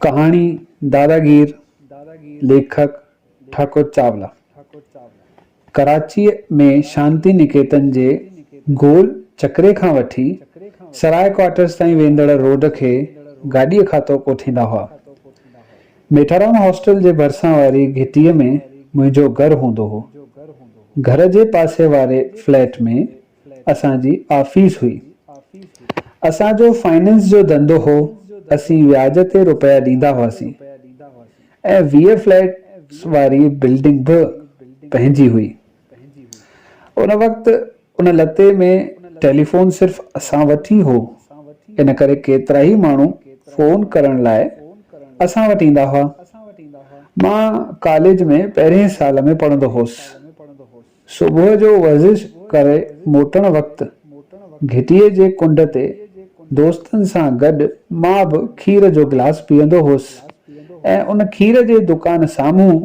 ڪهاڻي دادا گير ليکڪ ٺاڪر چاولا ڪراچيء ۾ شانتي نڪيتن جي گول چڪري کان وٺي سراء ڪوارٽرز تائين ويندڙ روڊ کي گاڏيء کاتو ڪوٺيندا هئا. ميٺارام هاسٽل جي ڀرسان واري گهٽيء ۾ منهنجو گهر هوندو هو. گهر جي پاسي واري فليٽ ۾ اسان جي آفيس هئي. اسان جو فائننس جو ڌنڌو هو، اسين وياج تي روپيا ڏيندا هئاسين ۽ ويهه فليٽس واري بلڊنگ به پنهنجي هئي. ان وقت ان لتي ۾ ٽيليفون صرف اسان وٽ ئي هو، ان ڪري ڪيترائي ماڻهو فون ڪرڻ لاء اسان وٽ ايندا هئا. مان ڪاليج ۾ پهرئين سال ۾ پڙهندو هوس. صبح جو ورزش ڪري موٽڻ وقت گهٽيء جي ڪنڊ تي دوستن سان گڏ مان به کير جو گلاس پيئندو هوس ۽ ان کير جي دڪان سامهون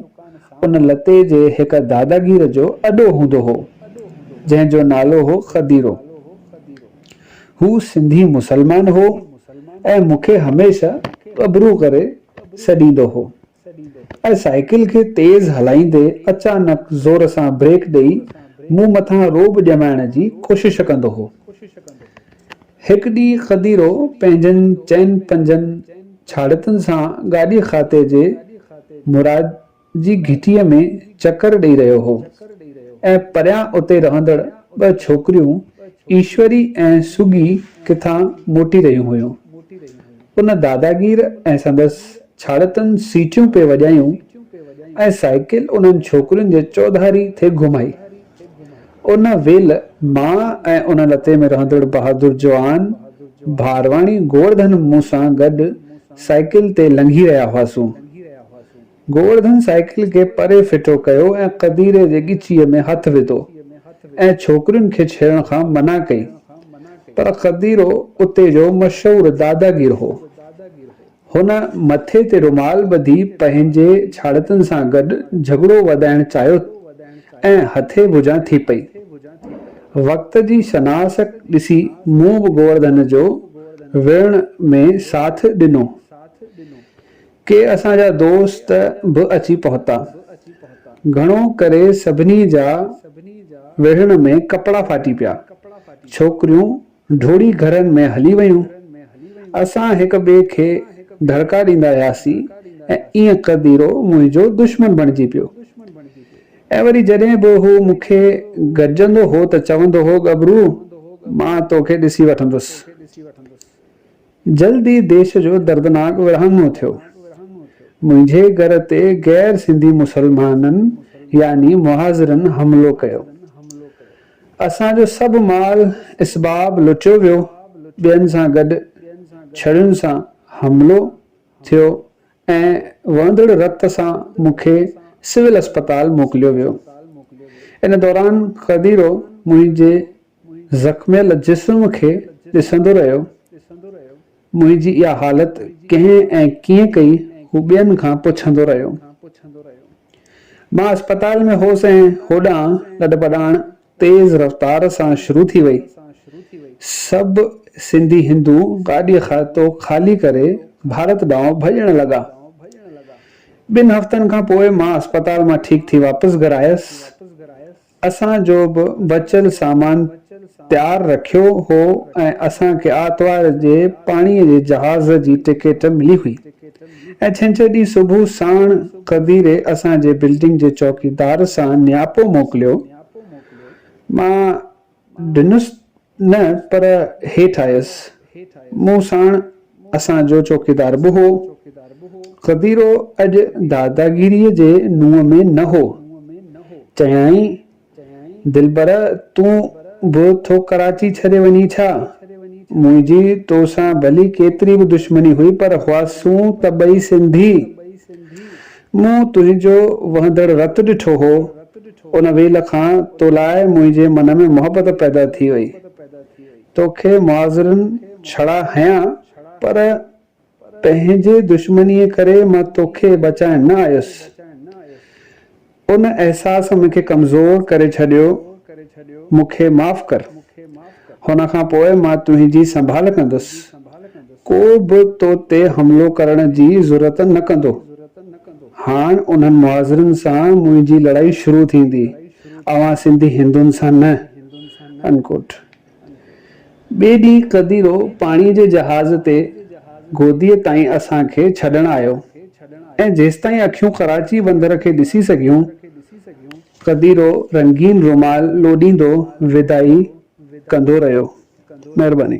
ان لتي جي هڪ داداگير جو اڏو هوندو هو، جنهن جو نالو هو خديرو. هو سنڌي مسلمان هو ۽ مون کي هميشه ٻٻرو ڪري سڏيندو هو. ۽ سائيڪل کي تيز هلائيندي اچانڪ زور سان بريڪ ڏئي مون مٿان رعب ڄمائڻ جي ڪوشش ڪندو هو. هڪ ڏينهن قديرو پنهنجن چئن پنجن ڇاڙتن سان گاڏي خاطي جي مراد جي گهٽيء ۾ چڪر ڏئي رهيو هو ۽ پريان اتي رهندڙ ٻه ڇوڪريون ايشوري ۽ سوگي ڪٿان موٽي رهيون هيون. ان داداگير ۽ سندس ڇاڙتن سيٽيون پئي وڄايون ۽ سائيڪل انهن ڇوڪرين جي چوڌاري ٿي گهمائي. ان ويل مان ۽ ان لتي ۾ رهندڙ بهادر جوان ڀارواڻي گوورڌن مون سان گڏ سائيڪل تي لنگهي رهيا هئاسون. گوورڌن سائيڪل کي پري ڦٽو ڪيو ۽ قديري جي ڳچيء ۾ هٿ وڌو ۽ ڇوڪرين کي ڇيڙڻ کان منع ڪئي. پر قديرو اتي جو مشهور داداگير هو. هن مٿي تي رومال ٻڌي پنهنجي ڇاڙتن سان گڏ جهڳڙو وڌائڻ چاهيو ۽ هٿي ڀڄان ٿي پئي. وقت جي شناس ڏسي مون به گوورڌن جو وڙهڻ ۾ ساٿ ڏنو. ڪي اسان جا دوست به اچي پهتا. گهڻو ڪري سڀني جا وڙهڻ ۾ ڪپڙا ڦاٽي پيا. ڇوڪريون ڊوڙي گهرن ۾ هلي ويون. اسان هڪ ٻئي کي دڙڪا ڏيندا وياسين ۽ ايئن قديرو منهنجو دشمن بڻجي پيو. ۽ وري جڏهن به هو مون کي گڏجندو هو ته چوندو هو، ڳڀرو، مان توکي ڏسي وٺندس. جلد ئي ديش جو دردناڪ ورهاڱو ٿيو. منهنجي گهر تي غير سنڌي مسلمانن يعني مهاجرن حملو ڪيو. اسان جو سڀ مال اسباب لٽيو ويو، ٻين سان گڏ ڇڙين سان حملو ٿيو ۽ وهندڙ رت سان مون کي سول اسپتال موڪليو ويو. ان دوران قديرو منهنجي زخميل جسم کي ڏسندو رهيو. منهنجي اها حالت ڪنهن ۽ ڪيئن ڪئي هو ٻين کان پڇندو رهيو. مان اسپتال ۾ هوس ۽ هوڏانهن لڏپلاڻ تيز رفتار سان شروع ٿي وئي. سڀ سنڌي هندو گاڏي کاتو خالي ڪري ڀارت ڏانهن ڀڄڻ لڳا. ٻن هفتن کان پوء مان اسپتال مان ٺيڪ ٿي واپس گهر آيس. اسان جو به بچيل سامان تيار رکيو هو ۽ اسان کي آرتوار جي پاڻي جي جهاز جي ٽڪيٽ ملي هئي ۽ ڇنڇر ڏينهن صبح ساڻ قديري اسان جي بلڊنگ جي چوڪيدار سان نياپو موڪليو مان ڏنس نه پر هيٺ آيس. مون ساڻ اسان جو چوڪيدار به هو. خديرو اڄ داداگيريء جي نونهن ۾ نه هو. چيائين، دلبر تون به ٿو ڪراچي ڇڏي وڃين ڇا؟ منهنجي تو سان ڀلي ڪيتري به دشمني هئي پر هئاسون ته ٻئي سنڌي. مون تنهنجو وهندڙ رت ڏٺو هو، ان ويل کان تو لاء منهنجي من ۾ محبت پيدا ٿي وئي. تو کي معاذرن ڇڙا هنيا، پر پنهنجي دشمنيء ڪري مان تو کي بچائڻ نه آيس. ان احساس مون کي ڪمزور ڪري ڇڏيو، مون کي معاف ڪر. هن کان پوء مان تنهنجي سنڀال ڪندس. ڪو به تو تي حملو ڪرڻ جي جرئت نه ڪندو. هاڻ انهن مهاجرن سان منهنجي لڙائي شروع ٿيندي، اوهان سنڌي هندن سان نه. Unquote. ٻئي ڏينهن قديرو پاڻي جي جهاز تي گوديء تائين اسان کي ڇڏڻ آيو ۽ جيستائين اکيون ڪراچي بندر کي ڏسي سگهيون، قديرو رنگين رومال لوڏيندو ودائي ڪندو رهيو. مهرباني.